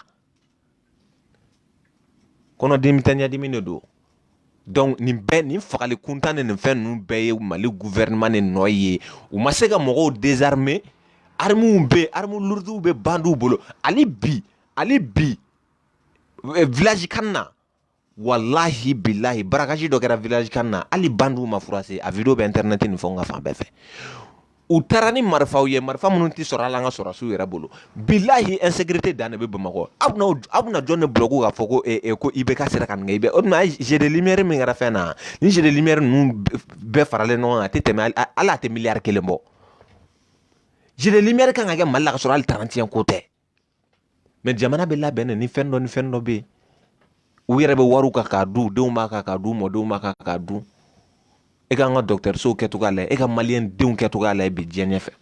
kɔnɔdimi tɛ ɲɛdimi de don donc nin bɛɛ nin fagali kuntan ni nin fɛn ninnu bɛɛ ye mali gouvernement de nɔ ye u ma se ka mɔgɔw désarmer armes bɛ armes lourdes bɛ bandiw bolo hali bi hali bi eh, village CAN na walahi bilahi barakaji dɔ kɛra village CAN na hali bandiw ma furase a video bɛ internet ni fɛnw ka fan bɛɛ fɛ u taara ni marifaw ye marifa minnu tɛ sɔrɔ hali an ka sɔrɔdasiw yɛrɛ bolo bilahi insécurité dan de bɛ bamakɔ aw bɛna aw bɛna jɔn de bulɔku k'a fɔ ko ee eh, eh, ko IBK sera ka nin kɛ i bɛ o tuma a jeu de lumière min kɛra fɛn na ni jeu de lumière ninnu bɛɛ faralen ɲɔgɔn kan a tɛ tɛmɛ hali a tɛ miliyari kelen bɔ jeu de lumière kan ka kɛ mali la ka sɔrɔ hali 31 ko tɛ mɛ jamana bɛ labɛn ni fɛn dɔ ni fɛn dɔ bɛ yen u yɛrɛ bɛ wariw kan k'a dun denw b'a kan k'a dun mɔdenw b'a kan k'a dun e k'an ka dɔgɔtɔrɔsow kɛcogoya lajɛ ka maliyɛn denw kɛcogoya lajɛ bi diɲɛ fɛ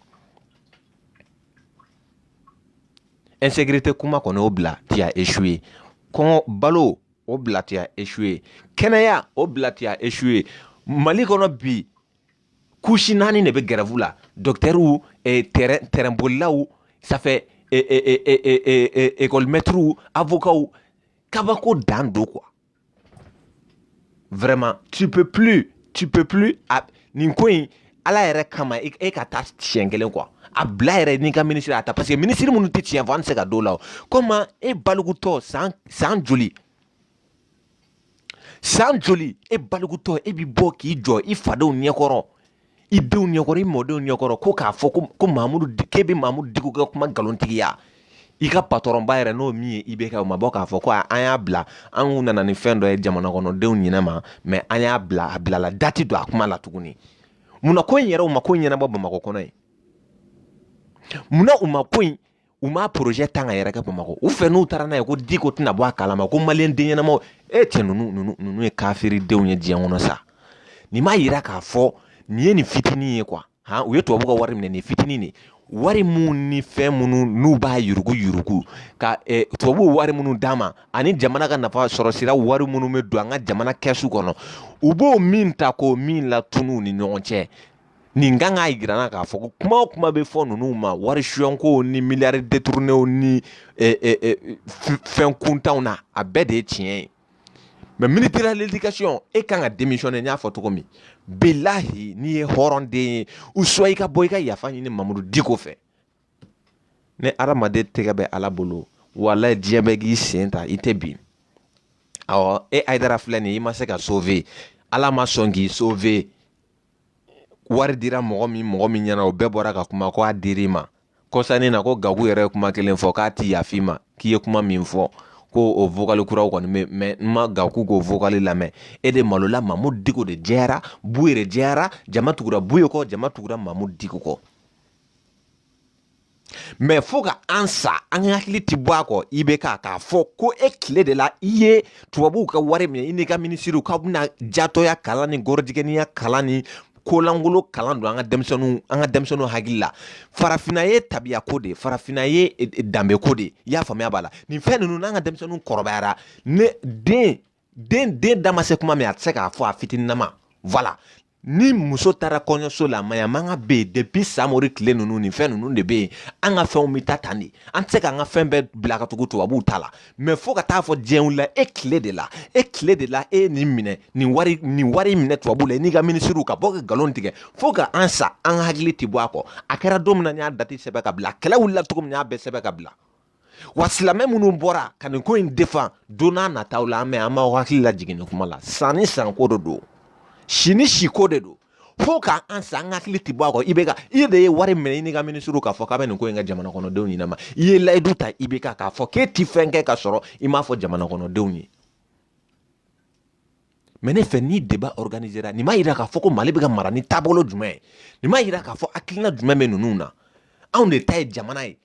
insécurité kuma kɔni o bila tu as échoué kɔngɔ balo o bila tu as échoué kɛnɛya o bila tu as échoué mali kɔnɔ bi kusi naani de bɛ gɛrɛvu la dɔkitɛriw tɛrɛnbolilaw sanfɛ ekɔlimɛtiriw avokaw kabako dan don kuwa vraiment tu peux plus tu peux plus a nin ko in ala yɛrɛ kama e, e ka taa tiɲɛ kelen kuwa a bila yɛrɛ n'i ka minisiri a ta parce que minisiri minnu tɛ tiɲɛ fɔ an tɛ se ka d'o la komi e balikutɔ san san joli san joli e balikutɔ e bɛ bɔ k'i jɔ i fadenw ɲɛkɔrɔ i denw ɲɛkɔrɔ i mɔdenw ɲɛkɔrɔ ko k'a fɔ ko mamudu k'e bɛ mamudu diko ka kuma nkalontigiya i ka patɔrɔnba yɛrɛ n'o min ye IBK o ma bɔ k'a fɔ ko an y'a bila an kun nana ni fɛn dɔ ye jamana kɔnɔdenw ɲɛna ma mɛ an y'a bila a bilala da tɛ don a kuma la tuguni munna ko in yɛrɛ u ma ko in ɲɛnabɔ bamakɔ kɔnɔ yan munna u ma ko in u ma porozɛ tan ka yɛrɛ kɛ bamakɔ u fɛ n'u taara n'a ye ko diko tɛna bɔ a kalama ko maliyɛn den ɲɛnamaw e cɛ ninnu ninnu ninnu ye kafiridenw ye diɲɛ kɔnɔ sa nin m'a yira k'a fɔ nin ye nin fitinin ye kuwa han u ye tubabu ka wari minɛ nin fitinin de wari minnu ni fɛn minnu n'u b'a yurugu yurugu ka eh, tubabuw wari minnu d'a ma ani jamana ka nafa sɔrɔ sira wari minnu bɛ don an ka jamana kɛsu kɔnɔ u b'o min ta k'o min latunun ni ɲɔgɔn cɛ nin kan k'a jira an na k'a fɔ ko kuma o kuma bɛ fɔ ninnu ma wari sonyako ni miliyari deturunew ni fɛn kuntanw na a bɛɛ de ye tiɲɛ ye mɛ minisiri ledikasiyɔn e kan ka demisiyɔnɛ n y'a fɔ cogo min bilahi n'i ye hɔrɔnden ye u suwa i ka bɔ i ka yafa ɲini mamudu diko fɛ ni adamaden tɛgɛ bɛ ala bolo walayi diɲɛ bɛɛ k'i sen ta i tɛ bin awɔ e ayidara filɛ nin ye i ma se ka sove ala ma sɔn k'i sove wari dira mɔgɔ min mɔgɔ min ɲɛna o bɛɛ bɔra ka kuma ko a dir'i ma kɔsannin na ko gaku yɛrɛ ye kuma kelen fɔ k'a tɛ yaf'i ma k'i ye kuma min fɔ ko o vokali kuraw kɔni bɛ mɛ n ma gaku k'o vokali lamɛn e de malola mamudu diko de jɛyara buye de jɛyara jama tugura buye kɔ jama tugura mamudu diko kɔ mɛ fo ka an sa an ka hakili tɛ bɔ a kɔ IBK k'a fɔ ko e tile de la i ye tubabuw ka wari minɛ i n'i ka minisiriw k'aw bɛna jatɔya kalan ni gɔrɔjigɛniya kalan ni kolankolon kalan don an ka denmisɛnninw an ka denmisɛnninw hakili la farafinna ye tabiya ko de ye farafinna ye e, e, danbe ko de ye i y'a faamuya voilà nin fɛn ninnu n'an ka denmisɛnninw kɔrɔbayara ne den den den da ma se kuma min a tɛ se k'a fɔ a fitininama voilà ni muso taara kɔɲɔso la maɲamagan bɛ yen depuis samori tile ninnu nin fɛn ninnu de bɛ yen an ka fɛnw bɛ taa tan de an tɛ se k'an ka fɛn bɛɛ bila ka tugu tubabuw ta la mɛ fo ka taa fɔ diɲɛ la e tile de la e tile de la e nin minɛ nin wari nin wari minɛ tubabuw la i n'i ka minisiriw ka bɔ ka nkalon tigɛ fo ka an sa an hakili tɛ bɔ a kɔ a kɛra don min na n y'a dati sɛbɛn ka bila kɛlɛ wulila cogo min n y'a bɛɛ sɛbɛn ka bila wa silamɛ minnu bɔra ka nin ko in defan don nataw la an bɛ an b'aw hakili lajigin nin kuma la san ni sanko de don si ni siko de don fo ka an sa an hakili ti bɔ a kɔ ibk i de ye wari minɛ i n'i ka minisiriw k'a fɔ k'a bɛ nin ko in kɛ jamana kɔnɔdenw ɲɛnama i ye layidu ta ibk k'a fɔ k'e ti fɛn kɛ ka sɔrɔ i m'a fɔ jamana kɔnɔdenw ye mɛ ne fɛ ni deba organisera nin m'a yira k'a fɔ ko mali bɛ ka mara ni taabolo jumɛn ye nin m'a yira k'a fɔ hakilina jumɛn bɛ ninnu na anw de ta ye jamana ye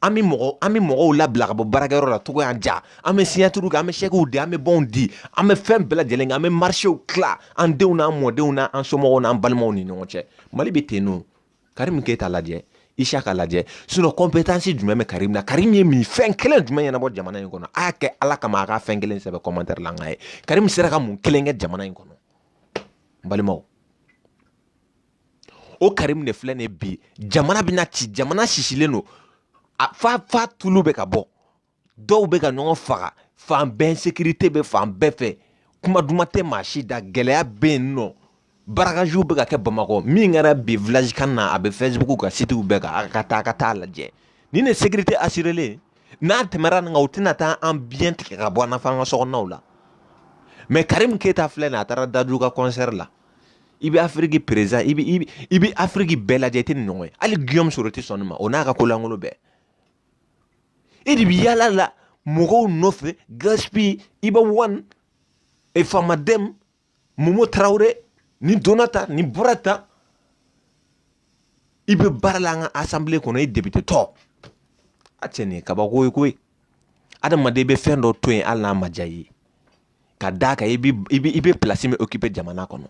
an bɛ mɔgɔ an bɛ mɔgɔw labila ka bɔ baarakɛyɔrɔ la cogoya ja an bɛ siɲatiri kɛ an bɛ sɛkiw di an bɛ bɔnw di an bɛ fɛn bɛɛ lajɛlen an bɛ marisew tila an denw n'an mɔdenw na an somɔgɔw n'an balimaw ni ɲɔgɔn cɛ mali bɛ ten n'o karimu keyita lajɛ isaka lajɛ sinɔn kɔnpetansi jumɛn bɛ karimu na karimu ye mun fɛn kelen jumɛn ɲɛnabɔ jamana in kɔnɔ a y'a kɛ ala kama a ka fɛn kelen sɛbɛn kɔmantɛri la k'a ye karimu sera ka mun kelen kɛ jamana in kɔnɔ balimaw o karimu de filɛ nin bi jamana bɛna ci jamana sisilen don a fa fa tulu bɛ ka bɔ dɔw bɛ ka ɲɔgɔn faga fan bɛɛ ɛnsekirite bɛ fan bɛɛ fɛ kuma duman tɛ maa si da gɛlɛya bɛ yen nɔ barakaziw bɛ ka kɛ bamakɔ min kɛra bi village can na a bɛ facebook ka sitiw bɛɛ kan a ka taa a ka taa lajɛ nin de sekirite asirelen n'a tɛmɛra nin kan u tɛna taa an biɲɛ tigɛ ka bɔ an na f'an ka sokɔnɔnaw la mɛ karimu keyita filɛ nin a taara dadju ka kɔnsɛri la i bɛ afiriki perezan i bɛ i bɛ i bɛ afiriki bɛɛ lajɛ i tɛ nin ɲɔgɔn ye hali giyɔmu sɔrɔ tɛ sɔn nin ma o n'a ka ko lankolon bɛɛ e de bɛ yaala la mɔgɔw nɔfɛ gasipi iba wani e famadɛmu momo tarawele ni donna ta ni bɔra ta i bɛ baara la an ka asanbile kɔnɔ i depitetɔ a cɛ nin ye kabako ye koyi adamaden bɛ fɛn dɔ to yen hali n'a ma diya i ye ka d'a kan i bɛ i bɛ i bɛ pilasi min okipe jamana kɔnɔ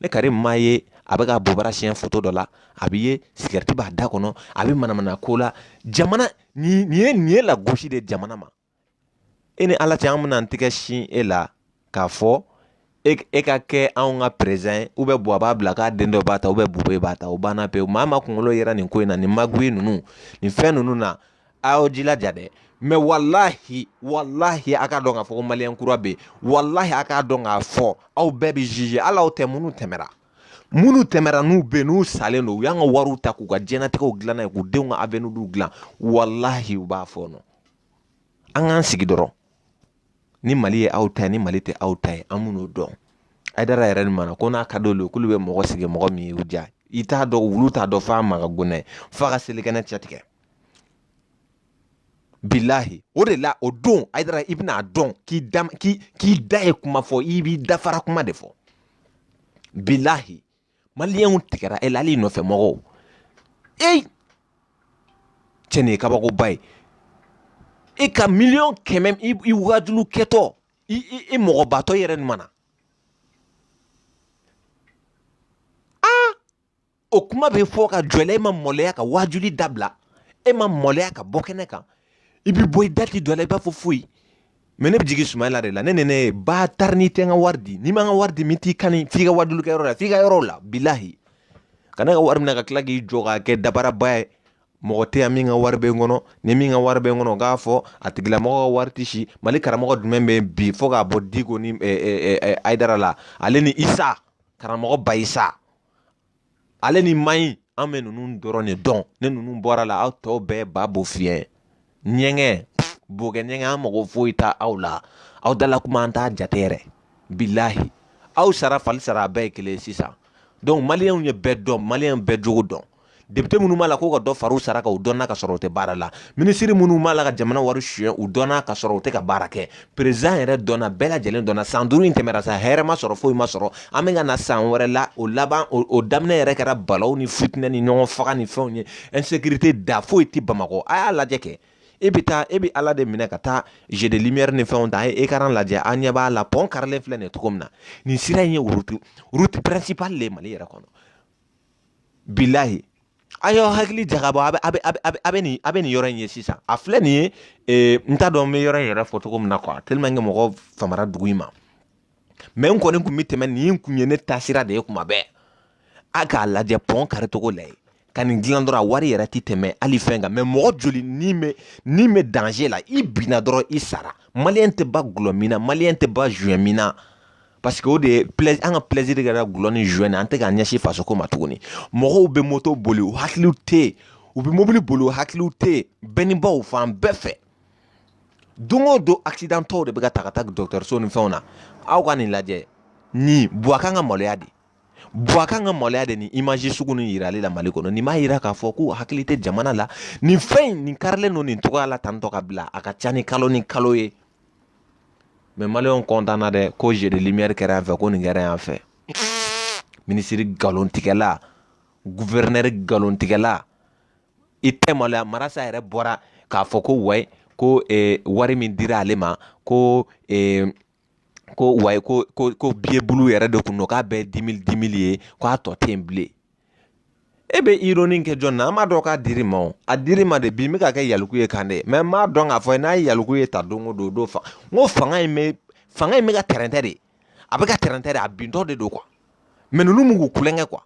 ne karimu a ye a bɛ ka bobara siɲɛ foto dɔ la a bɛ yen sigarɛti b'a da kɔnɔ a bɛ manamana ko la jamana nin nin ye nin ye lagosi de jamana ma e ni ala cɛ an bɛna an tɛgɛ sin e la k'a fɔ e e ka kɛ anw ka perezan ye u bɛ buwa b'a bila k'a den dɔ b'a ta u bɛ bube b'a ta o banna pewu maa ma kunkolo yɛrɛ nin ko in na nin magoye ninnu nin fɛn ninnu na a y'aw jilaja dɛ mɛ walahi walahi a k'a dɔn k'a fɔ ko maliyɛn kura bɛ yen walahi a k'a dɔn k'a fɔ aw bɛɛ bɛ zize hali aw tɛ minnu tɛmɛra minnu tɛmɛra n'u bɛ yen n'u salen don u y'an ka wariw ta k'u ka diɲɛnatigɛw dilan n'a ye k'u denw ka aveniw dilan walahi u b'a fɔ nɔ an k'an sigi dɔrɔn ni mali ye aw ta ye ni mali tɛ aw ta ye an bɛn'o dɔn hayidara yɛrɛ ni mana ko n'a ka d'olu ye k'olu bɛ mɔgɔ sigi mɔgɔ min ye u diya i t'a dɔn wulu t'a dɔn f'a ma ka gona ye f'a ka selikɛnɛ cɛ tigɛ bilahi o de la o don ayidara i bɛna a dɔn k'i da k'i da ye kuma fɔ i b'i dafara kuma de fɔ bilahi maliyɛnw tigɛra e la hali nɔfɛ mɔgɔw ee cɛ nin ye kabakoba ye e ka miliyɔn kɛmɛ i wajuli kɛtɔ i i i mɔgɔbatɔ yɛrɛ nin mana o kuma bɛ fɔ ka jɔ e ma maloya ka wajuli dabila e ma maloya ka bɔ kɛnɛ kan i bɛ bɔ i dati dɔ la i b'a fɔ foyi mɛ ne bɛ jigin suma la de la ne ne ne ba taara ni tɛ ka wari di ni man ka wari di min t'i kan f'i ka waju kɛyɔrɔ la f'i ka yɔrɔ la bilahi ka ne ka wari minɛ ka tila k'i jɔ ka kɛ dabaraba ye mɔgɔ tɛ yan min ka wari bɛ n kɔnɔ ni min ka wari bɛ n kɔnɔ k'a fɔ a tigilamɔgɔ ka wari tɛ si mali karamɔgɔ jumɛn bɛ bi fɔ k'a bɔ diko ni ayidara la ale ni isa karamɔgɔ ba isa ale ni mayi an bɛ ninnu dɔrɔn de dɔn ni ninnu bɔra a la aw tɔw bɛɛ ba bo fiyɛ ɲɛgɛn bokɛ ɲɛgɛn an mago foyi t'aw la aw dala kuma an t'a jate yɛrɛ bilahi aw sara fali sara a bɛɛ ye kelen sisan donc maliyɛnw ye bɛɛ dɔn maliyɛn bɛɛ jogo dɔn depite minnu b'a la k'u ka dɔ fara u sara kan u dɔnna ka sɔrɔ u tɛ baara la minisiri minnu b'a la ka jamana wari suyɛn u dɔnna ka sɔrɔ u tɛ ka baara kɛ perezan yɛrɛ dɔnna bɛɛ lajɛlen dɔnna san duuru in tɛmɛra sa hɛrɛ ma sɔrɔ foyi ma sɔrɔ an bɛ ka na san wɛrɛ la o laban o daminɛ yɛrɛ kɛra balawu ni fitinɛ ni ɲɔgɔn faga ni fɛnw ye insécurité da foyi tɛ bamakɔ a y'a lajɛ kɛ e bɛ taa e bɛ ala de minɛ ka taa jeu de lumière ni fɛnw ta a ye ekaran lajɛ an ɲɛ b'a la pɔn karilen filɛ nin ye cogo min na nin sira in ye route route principale de ye mali yɛrɛ kɔnɔ bilahi a y'aw hakili jagabɔ a bɛ a bɛ a bɛ a bɛ nin a bɛ nin yɔrɔ in ye sisan a filɛ nin ye ee n t'a dɔn n bɛ yɔrɔ in yɛrɛ fɔ cogo min na kuwa teliman kɛ mɔgɔ famara dugu in ma mɛ n kɔni tun bɛ tɛmɛ nin kun ye ne taasira de ye kuma bɛɛ a k'a lajɛ pɔn kari cogo lajɛ ka nin dilan dɔrɔn a wari yɛrɛ tɛ tɛmɛ hali fɛn kan mɛ mɔgɔ joli ni bɛ ni bɛ danze la i binna dɔrɔn i sara maliyɛn tɛ ba gulɔ min na maliyɛn tɛ ba zuɲɛ min na paseke o de ye an ka pilɛziri de kɛra gulɔ ni zuwɛ na an tɛ k'an ɲɛsin fasoko ma tuguni mɔgɔw bɛ moto boli u hakiliw tɛ yen u bɛ mobili boli u hakiliw tɛ yen bɛɛ ni baw fan bɛɛ fɛ don o don akisidantɔw de bɛ ka ta ka taa dɔgɔtɔrɔso ni fɛnw na aw ka nin lajɛ nin buwa kan ka maloya dɛ buwa kan ka maloya dɛ ni imazi sugu nin yirali la mali kɔnɔ nin b'a yira k'a fɔ k'u hakili tɛ jamana la nin fɛn in nin karilen don nin cogoya la tantɔ ka bila a ka ca ni kalo ni kalo ye mɛ maliyɛnw kɔntanna dɛ ko jeu de lumière kɛra yan fɛ ko nin kɛra yan fɛ minisiri nkalontigɛla guvɛrɛnɛri nkalontigɛla i tɛ maloya marasa yɛrɛ bɔra k'a fɔ ko wayi ko eh, wari min dira ale ma ko eh, ko wayi ko ko ko biyebulu yɛrɛ de kun don k'a bɛɛ dimili dimili ye k'a tɔ tɛ yen bilen e bɛ ironi kɛ jɔn na an b'a dɔn k'a dir'i ma o a dir'i ma de bi min bɛ ka kɛ yalikuye kan dɛ mais n b'a dɔn k'a fɔ n'a ye yalikuye ta don o don o don fa n ko fanga in bɛ fanga in bɛ ka tɛrɛntɛ de a bɛ ka tɛrɛntɛ de a bintɔ de don quoi mais ninnu mun k'u kulonkɛ quoi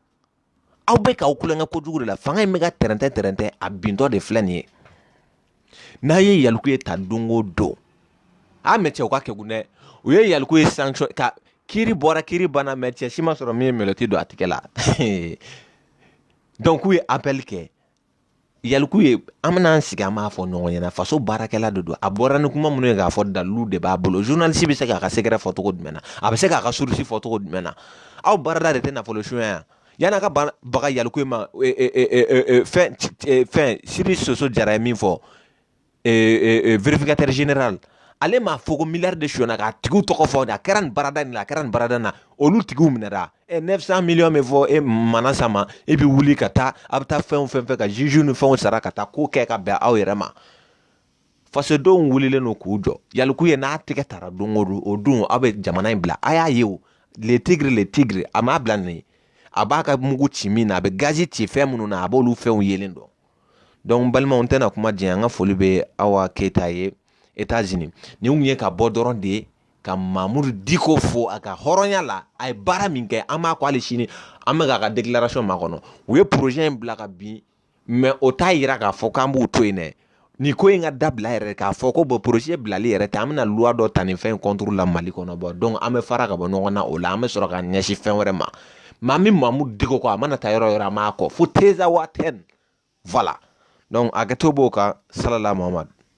aw bɛ k'aw kulonkɛ kojugu de la fanga in bɛ ka tɛrɛntɛ tɛrɛntɛ a bintɔ de filɛ nin ye n'a ye yalikuye ta don o don a mais cɛ u ka kegun dɛ u ye yalikuye sanction ka kiri bɔra kiri banna mais cɛ si ma sɔrɔ min ye menotte don a tɛgɛ la donc k'u ye appel kɛ yalikuye an bɛna an sigi an b'a fɔ ɲɔgɔn ɲɛna faso baarakɛla de don a bɔra ni kuma minnu ye k'a fɔ dalilu de b'a bolo journaliste bɛ se k'a ka secret fɔ cogo jumɛn na a bɛ se k'a ka source fɔ cogo jumɛn na aw baarada de tɛ nafolo suɲɛ yan yani a ka baga yalikuye ma fɛn fɛn sidi soso jara ye min fɔ vérificateur général ale m'a fɔ ko miliyari de sonyɛna k'a tigiw tɔgɔ fɔ a kɛra nin baarada in na a kɛra nin baarada in na olu tigiw minɛra ɛ neuf cent miliyɔn bɛ fɔ manasa ma e bɛ wuli ka taa a bɛ taa fɛn o fɛn fɛ ka zuziw ni fɛnw sara ka taa ko kɛ ka bɛn aw yɛrɛ ma fasodenw wulilen don k'u jɔ yalikuye n'a tɛgɛ tara don o don o don aw bɛ jamana in bila a y'a ye o le tigre le tigre a m'a bila nin a b'a ka mugu ci min na a bɛ gazi ci fɛn minnu na a b'olu fɛnw yelen dɔn donc balimaw n tɛna kuma janya an ka foli bɛ awa keyita ye etazini nin tun ye ka bɔ dɔrɔn de ye ka mamudu diko fo a ka hɔrɔnya la a ye baara min kɛ an b'a kɔ hali sini an bɛ k'a ka déclaration makɔnɔ u ye projet in bila ka bin mais o t'a yira k'a fɔ k'an b'u to yen dɛ nin ko in ka dabila yɛrɛ k'a fɔ ko bon projet bilali yɛrɛ tɛ an bɛna luwa dɔ ta nin fɛn in contre la mali kɔnɔ bon donc an bɛ fara ka bɔ ɲɔgɔn na o la an bɛ sɔrɔ ka ɲɛsin fɛn wɛrɛ ma mais an bɛ mamudu diko kɔ a mana taa yɔrɔ o yɔrɔ an b'a kɔ fo tenzawatɛn voilà donc a kɛto b'o kan salala muhamadu